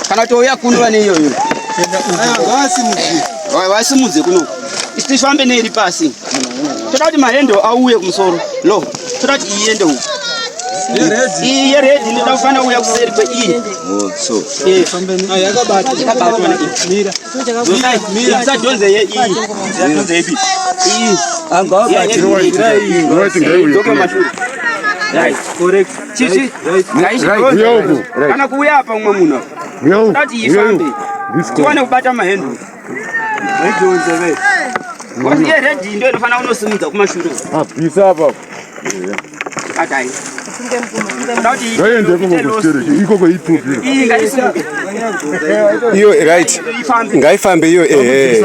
Kana kuti uya kuno vane iyo iyo. Vasimudze kuno. Isifambe neiri pasi. Toda kuti mahendo auye kumusoro. Lo. Toda kuti iende uko. Iyi yeredhi inoda kufanira kuuya kuseri kweiyi. Isadhonze yeiyi. Isadhonze yeiyi. Iyi. Angawabatirwa. Right, right, right. Correct. Chichi, ngaishi dozi. Kana kuuya apa umwe munhu apa. Tati ifambe. Tiwane kubata mahenduru. Vaidonze ve. Ngozi ye red ndo inofanira kunosimudza kumashure. Ah, pisa apa. Adai. iyo right ngaifambe iyo ehe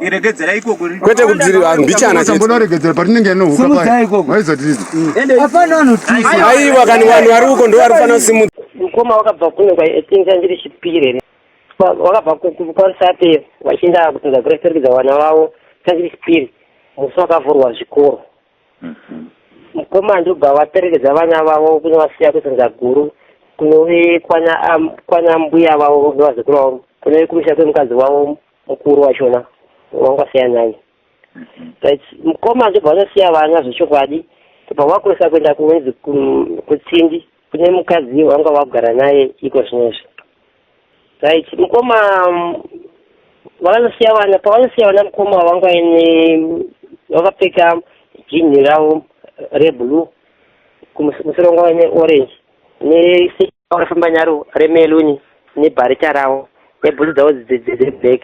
Iregedzera ikoko riri. Kwete kubziri ah, mbichana chete. Sambona regedzera patinenge yanohuka paya. Simudza ikoko. Waiza tiri. Ende hapana anotusa. Aiwa kani vanhu vari uko ndo vari fana simu. Mukoma wakabva kuno kwa etinza ndiri chipire. Wakabva kwa sape wachinda kutunza grace regedza vana vavo tangiri chipire. Musi wakavhurwa zvikoro. Mhm. Mukoma ndobva vaperekedza vana vavo kuno vasiya kutunza guru kunove kwana kwana mbuya vavo vazukuru vavo kunove kumusha kwemukadzi wavo mukuru wachona wanga siya nyanya but mukoma ndobva vanosiya vana zvechokwadi tobva vakurisa kuenda kunzi kutsindi kune mukadzi wanga vakugara naye iko zvinezvi right mukoma vakanosiya vana pavanosiya vana mukoma vanga ine vakapfeka jinhi ravo reblue kumusoro wanga ine orange ne Vakafamba nyaro remeluni nebharicha ravo nebhutsu dzavo dzeblack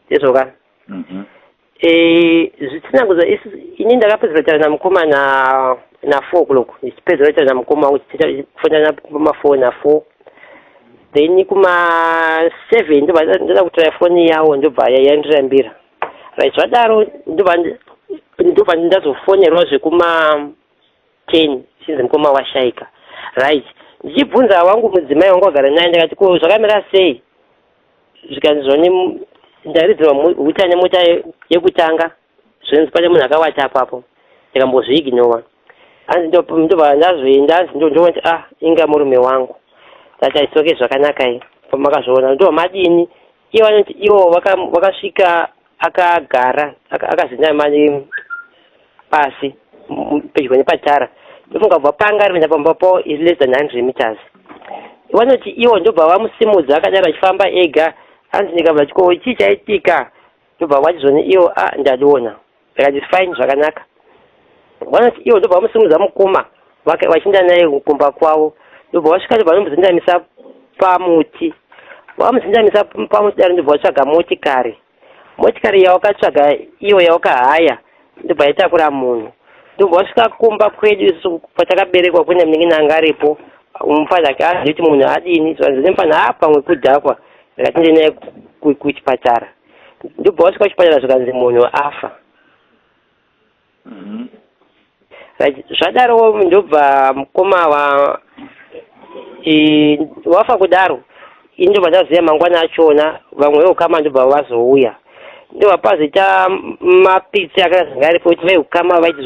ndizvoka mhm. eh, zvisina kuza ini ndakapedzera taura namukoma na na four o'clock ndichipedzera taura namukoma uchifonana pamafour na four then kuma seven ndobva ndoda kutora foni yawo ndobva yandirambira right zvadaro ndobva ndobva ndazofonerwa zvekuma 10 since mukoma washaika right ndichibvunza wangu mudzimai wangu wagara naye ndikati ko zvakamira sei zvikanzi zvoni ndaridzirwa huta nemota yekutanga zvinzi pane munhu akawata apapo ndikambozviignowa hanzi ndobva ndazoenda hanzi ndondoona kuti ah inga murume wangu that aisoke zvakanaka i pamakazviona ndobva madini iye vanoti ivo vaka- vakasvika akagara aka- akazinama ne- pasi m- pedyo nepatara ndofunga kubva panga ari kuenda pamba pavo is less than 100 meters vanoti ivo ndobva vamusimudza akadaro achifamba ega hanzi ndikabva chiko chii chaitika ndobva vachizoni ivo a ndadona zvikanzi fine zvakanaka vanoti ivo ndobva vamusimudza mukoma vachienda naye kumba kwavo ndobva vasvika ndobva vanomuzendamisa pamuti vamuzendamisa pamuti daro ndobva vatsvaga motikari motikari yawakatsvaga iyo yawakahaya ndobva yatakura munhu ndobva vasvika kumba kwedu isu kwatakaberekwa kune munenge nanga aripo mufana ake azivi kuti munhu adini zvanzi nemufana a pamwe kudhakwa ndikatinde naye kuchipatara ndobva wasvika kuchipatara zvikanzi munhu afa mhm. zvadaro ndobva mukoma wa wafa kudaro ini ndobva ndaziva mangwana achona vamwe veukama ndobva vazouya ndobva pazita mapitsi akazanga aripo kuti veukama vaiti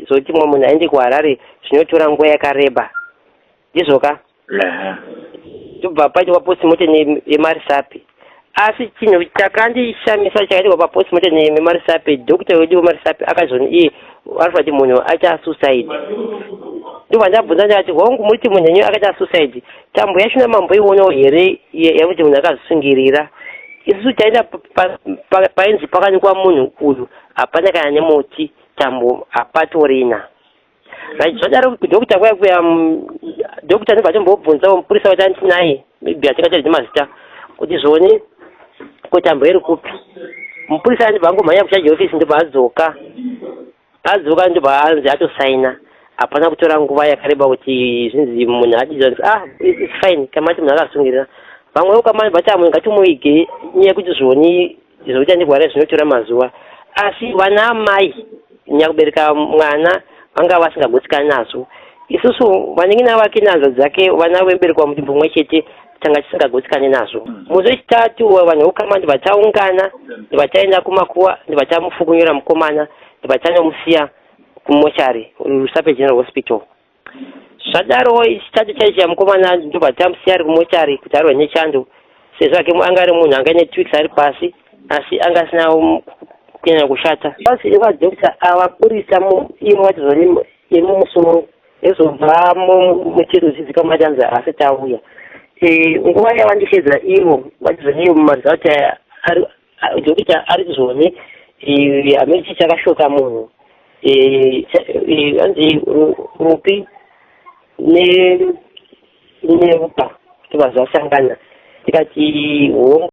zoti mumwe munhu aende kuharare zvinotora nguva yakareba ndizvoka tobva paitwa paposimoten yemarisapi asi chinhu chakandishamisa chakaitwa paposimoten yemarisapi dokita wedu wemarisapi akazoni iye anofa ti munhu aita suicide ndobva ndabvunza ndikati hongu muri ti munhu enyu akaita suicide tambo yacho namamboionawo here yakuti munhu akazvisungirira isusu taenda painzi pakanikwa munhu uyu hapana kana nemuti tambo hapatorina right zvadaro kudhokita kuya kuya mm, dhokita ndibva atombobvunzawo mupurisa wati anditi naye maybe atikataridzi mazita kuti zvione kuti ambo iri kupi mupurisa andibva angomhanya kuchaji ofisi ndobva adzoka adzoka ndobva anzi atosaina hapana kutora nguva yakareba kuti zvinzi munhu adidza ah its fine kamati munhu akasungirira vamwewo kamani vati amwe ngatimuvige nyaya yekuti zvioni Izvo kuchandirwara zvinotora mazuva asi vana amai nyakubereka mwana vanga vasingagutsikani nazvo isusu vanin'ina vake nehanza dzake vana veberekwa mutumbu mumwe chete tanga tisingagutsikani nazvo mm. muzi wechitatu vanhu vokama ndivataungana ndivataenda kumakuva ndivatamufukunyura mukomana ndivataanomusiya kumochari rusape general hospital Zvadaro chitadzo chaichaya mukomana ndobva tamusiya ari kumochari kuti arwe nechando sezvo ake anga ari munhu anga ine two weeks ari pasi asi anga asina um, kunyanya kushata pasi vadokta ava purisa imo vatizo yemumusoro ezobva muchiro zvidzika matanzi asi tauya e, nguva yavandishedza ivo vatizo neyo mumarizauti aya Dokita ari kuzone hameno chii chakashoka munhu hanzi rupi nerupa kuti vanhu vasangana tikati hongu